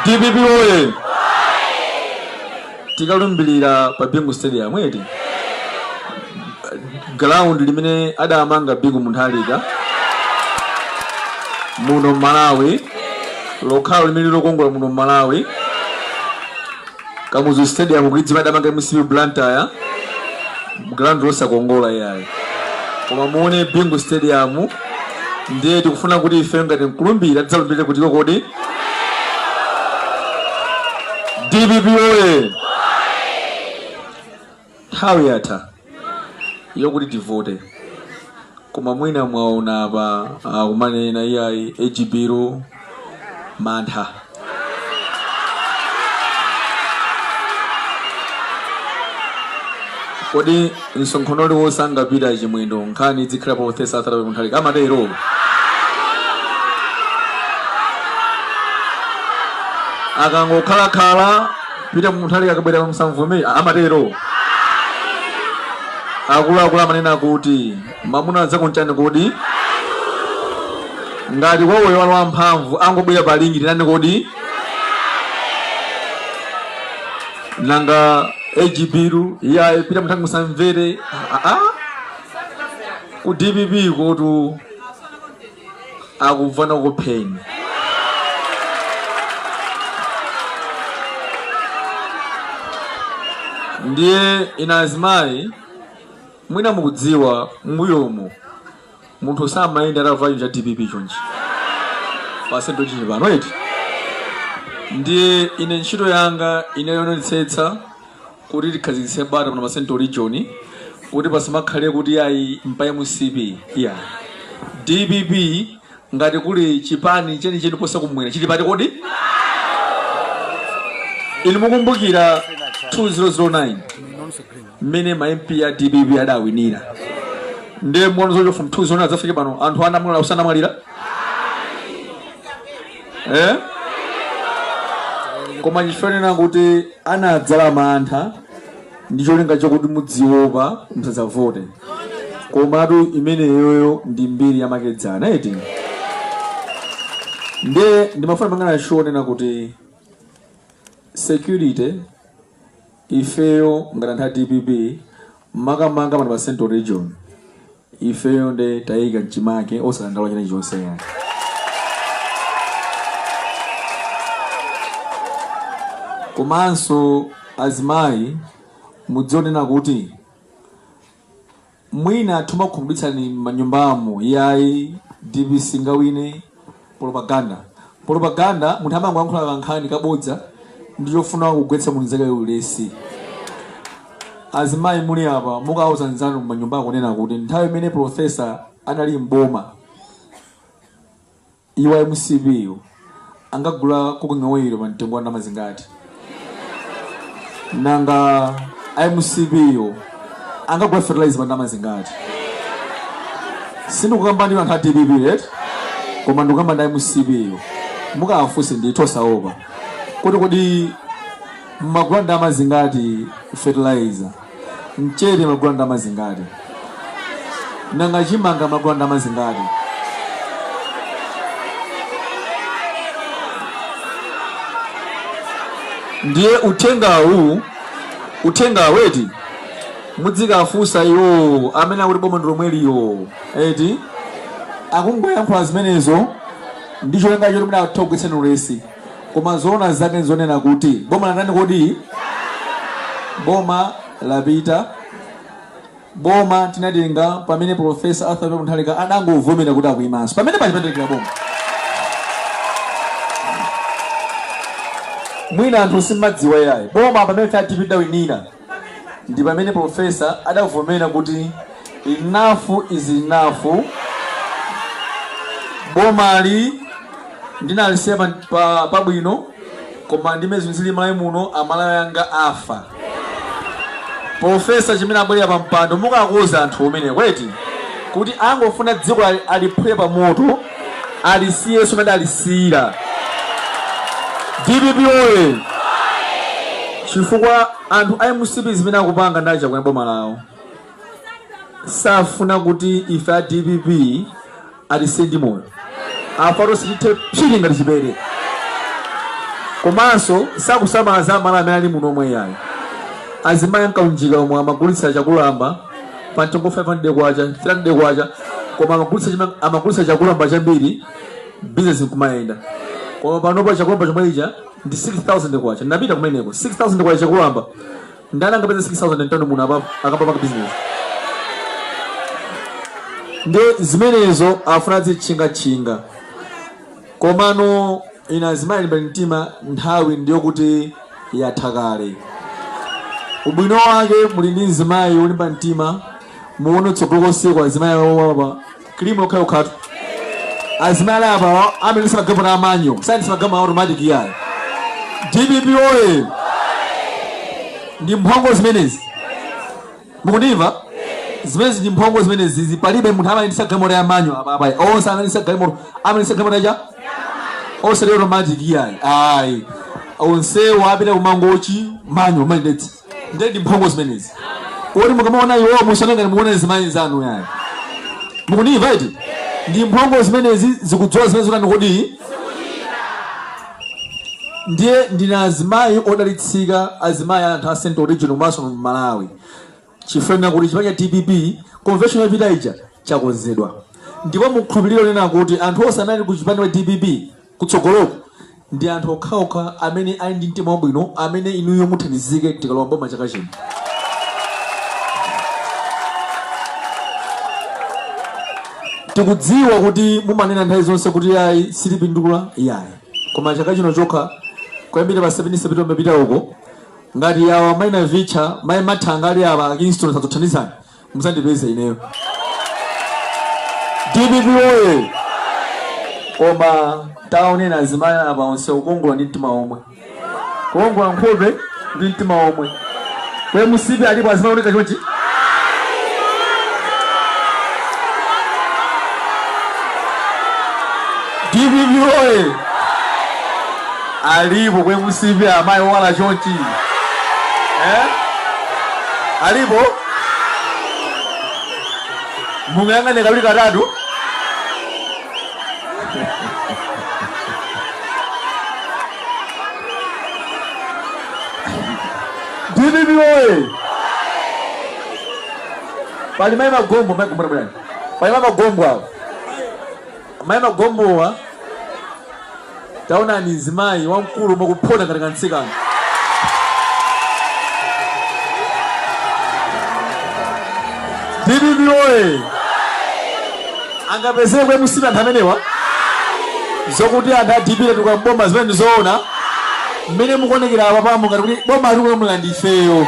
dpp oye tikalumbirira pa bingu stadium eti ground limene adamanga bingu mutharika muno mmalawi lokhalo limene lilokongola muno mmalawi Kamuzu Stadium kuidziwa adamanga mcp Blantyre ground losakongola iyayi koma muone Bingu Stadium ndiye tikufuna kuti ife ngati mkulumbira tidzalumbire kutiko kodi DPP oye Nthawi yatha yokuti tivote koma mwina mwaona apa akumanena iyayi age bill mantha kodi msonkhano uliwonse angapite a chimwendo nkhani idzikhala professor arthur mutharika amatero akangokhalakhala Peter Mutharika akabwera msamvomere amatero akuluakulu amanena kuti mamuna nzako nchani kodi ngati wawoyo ali wamphamvu angobwera pa ring titani kodi nanga age bill iyayi Peter Mutharika musamvere Ah, ah. ku dpp kotu akufuna akupheni ndiye inu azimayi mwina mukudziwa mbuyomu munthu samayenda atavala cha dpp chonchi pa central region pano eti ndiye ine ntchito yanga ine yoonetsetsa kuti tikhazikitse bata pano pa central region kuti pasamakhale kuti ayi mpa mcp iya dpp ngati kuli chipani chenicheni posa kumwera chili pati kodi inu mukumbukira 2009 mmene ma mp a dpp adawinira ndiye muona zocho from 2009 adzafike pano anthu anamwalira usanamwalira eh? koma chifukwa chonena kuti anadzala mantha ndi cholinga chakuti mudziopa musadzavote komatu imeneyoyo ndi mbiri yamakedzana eti ndiye ndimafuna pangana chonena kuti security ifeyo ngati anthu a dpp makamaka pano pa central region ifeyo nde tayika mchimake osadandaula china chilichonse yayi komanso azimayi mudziwe kunena kuti Mwina tumakhumudwitsani manyumbamu iyayi dpp singawine propaganda propaganda munthu amangoyankhula kankhani kabodza ndi chofuna kugwetsa mnzake ulesi azimayi muli apa mukauza nzanu manyumba kunena kuti nthawi imene profesa anali mboma Iwo a mcp yo angagula cooking oil pa mtengo wa ndalama zingati? Nanga a mcp yo angagula fertilizer pa ndalama zingati? Sindikukamba ndi anthu a dpp eti koma ndikukamba ndi a mcp yo. Mukawafunse ndithu osaopa kuti kodi mmagula ndalama zingati fertilizer? mchere mmagula ndalama zingati nanga chimanga mmagula ndalama zingati ndiye uthengawu uthengawu eti mudzikafunsa iwowo amene akuti boma ndilomweli iwowo eti akungoyankhula zimenezo ndi cholinga choti mwina akugwetseni ulesi Koma zoona zake nzonena kuti boma latani kodi? Boma lapita. Boma tinatenga pamene Professor Arthur Mutharika adangovomera kuti akuimanso. Pamene paja mpatengera boma. Mwina anthu simmadziwa yayi. Boma pamene tatipidawinira. Ndi pamene Professor adavomera kuti enough is enough. Bomali ndinalisiya pabwino koma ndi mmene zilili malawi muno amalawi anga afa. Professor chimene abwerera pa mpando mukawauza anthu kumeneko eti kuti angofuna dziko aliphule pa moto alisiyenso mmene adalisiyira dpp oye chifukwa anthu a mcp zimene akupanga ndacha kuti boma lawo safuna kuti ife a dpp atisiye ndi moyo afuna atithe psiti ngati chipere komanso sakusamala za amalawi amene ali muno omwe iyayi azimayi nkaunjika omwe amagulitsa chakulamba pa mtengo 500 kwacha 300 kwacha koma amagulitsa chakulamba chambiri business nkumayenda koma panopa chakulamba chomwe chija ndi 6000 kwacha ndinapita kumeneko 6000 kwacha chakulamba ndani angapeza 6000 mtauni muno apa akapanga business ndi zimenezo afuna azitchingatchinga Komano ine azimayi limbani mtima nthawi ndiyokuti yatha kale. Ubwino wake muli ndi mzimayi wolimba mtima muone tsogolo konseku azimayi awo apa kilimu yokhayokhatu. Azimayi ali apawa amayendetsa magalimoto a manual sayendetsa magalimoto a automatic iyayi. Dpp woye! Ndi mphongo zimenezi. mukundimva zimenezi ndi mphongo zimenezi palibe munthu amayendesa galimoto ya manyo apapai onse amayendesa galimoto amayendesa galimoto ya onse lero automatic yayi ayi onsewo apita kumangochi manyo amayendetsa ndiye ndi mphongo zimenezi kodi mukamaona iwowo musanangani mukuona zimayi zanu yayi mukundimva iti ndi mphongo zimenezi zikudzola zimene zotani kodi Ndiye ndinu azimayi odalitsika azimayi a anthu a Central Region komanso Malawi chifukwa ndinena kuti chipani cha dpp convention yapita ija chakonzedwa ndipo mukhulupirire kunena kuti anthu onse amene ali ku chipani cha dpp kutsogoloko ndi anthu okhaokha amene ali ndi mtima wabwino amene inuyo muthandizike tikalowa mboma chaka chino tikudziwa kuti mumanena nthawi zonse kuti yayi sitipindula yayi koma chaka chino chokha kuyambira pa 17 septemba kumapita uko ngati awa mai navicha mai mathanga ali awa akingston sadzakuthandizani mudzandipeze ineyo dpp oye koma taonani azimayi apa onse kukongola ndi mtima omwe kukongola nkhope ndi mtima omwe ku mcp alipo azimayi ooneka chonchi dpp oye alipo ku mcp amayi owala chonchi eh? alipo muyang'ane kawiri katatu dpp oye pali mai magombo mai gombora bwana pali mai magombo awo mai magombowa Taonani mzimayi wamkulu akuphona ngati kamtsikana. Dpp oye! Angapezeke ku MCP anthu amenewa? Zokuti anthu a DPP atuluka mboma zimenezi ndizoona? Mmene mukuonekera apapamu ngati kuti boma tikulamula ndi ifeyo.